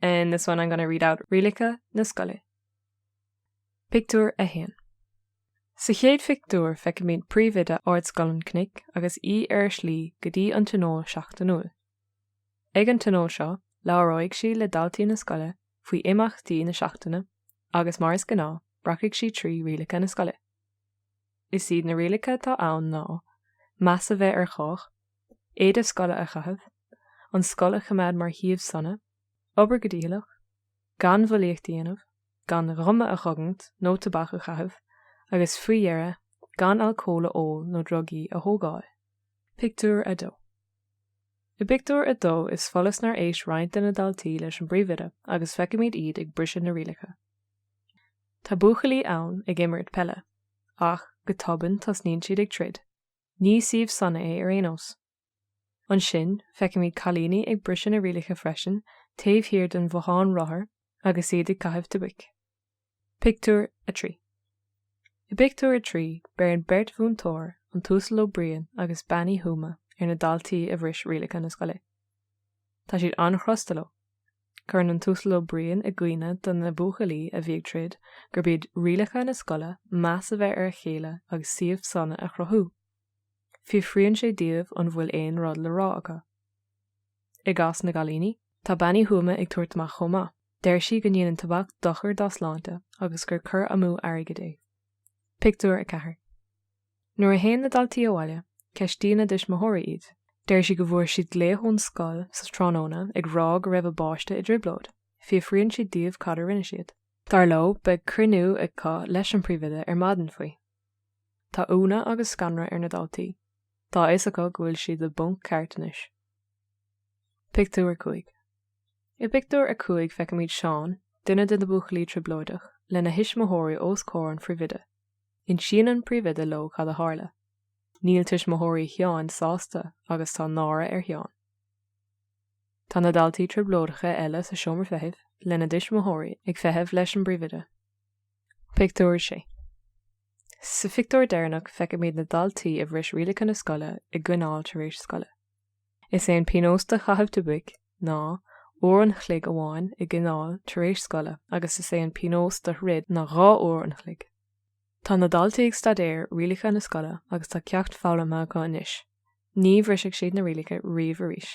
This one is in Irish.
In this one I'm going to read out rialacha na scoile. Pictiúr 1. Sa chéad phictiúr feicimid príomhoide Ardscoil an Chnoic agus í ar a slí go dtí an Tionól Seachtainiúil. Ag an tionól seo labhróidh sí le daltaí na scoile faoi imeachtaí na seachtaine agus mar is gnáth rachfaidh sí trí rialacha na scoile. Is iad na rialacha atá ann ná, meas a bheith ar chách, éide scoile a chaitheamh, an scoil a choimeád mar shuíomh sona, obair go dícheallach, gan bhulaíocht a dhéanamh, gan ghuma a chogaint nó tobac a chaitheamh agus faoi dheireadh gan alcól a ól nó drugaí a thógáil. Pictiúr 2. I bpictiúr a dó is follas nár éist roinnt de na daltaí leis an bpríomhoide agus feicimid iad ag briseadh na rialacha. Tá buachaillí ann ag imirt peile. Ach, go tobann tosnaíonn siad ag troid. Ní suíomh sona é ar aon nós. Ansin, feicimid cailíní ag briseadh na rialacha freisin taobh thiar den bhothán rothar agus iad ag caitheamh tobac. Pictiúr 3 I bpictiúr a trí, beireann beirt mhúinteoir, an tUasal Ó Briain agus Bean Uí Thuama, ar na daltaí a bhris rialacha na scoile. Tá siad an-chrosta leo. Cuireann an tUasal Ó Briain i gcuimhne do na buachaillí a bhí ag troid gurb iad rialacha na scoile meas a bheith ar a chéile agus suíomh sona a chruthú. Fiafraíonn sé díobh an bhfuil aon rud le rá acu. I gcás na gcailíní, tá Bean Uí Thuama ag tabhairt amach chomh maith. Deir sí go ndéanann tobac dochar dá sláinte agus gur cur amú airgid é. Pictiúr 4 Nuair a théann na daltaí abhaile, ceistíonn a dtuismitheoirí iad. Deir sí go bhfuair siad glaoch ón scoil sa tráthnóna ag rá go raibh a bpáiste i dtrioblóid. Fiafraíonn siad díobh cad a rinne siad. Dar leo, beidh cruinniú acu leis an bpríomhoide ar maidin faoi. Tá ionadh agus scanradh ar na daltaí. Tá a fhios acu go bhfuil siad i bponc ceart anois. Pictiúr 5 I bpictiúr a cúig feicimid Seán, duine de na buachaillí trioblóideach, lena thuismitheoirí os comhair an phríomhoide. Insíonn an príomhoide leo cad a tharla. Níl tuismitheoirí Sheáin sásta agus tá náire ar Sheán. Tá na daltaí trioblóideacha eile sa seomra feithimh lena dtuismitheoirí ag feitheamh leis an bpríomhoide. Pictiúr 6 Sa phictiúr deireanach feicimid na daltaí a bhris rialacha na scoile i gcoinneáil tar éis scoile. Is é an pionós do chaitheamh tobaic ná uair an chloig amháin i gcoinneáil tar éis scoile agus is é an pionós do throid ná dhá uair an chloig. Tá na daltaí ag staidéar rialacha na scoile agus tá ceacht foghlamtha acu anois, ní bhrisfidh siad na rialacha riamh arís.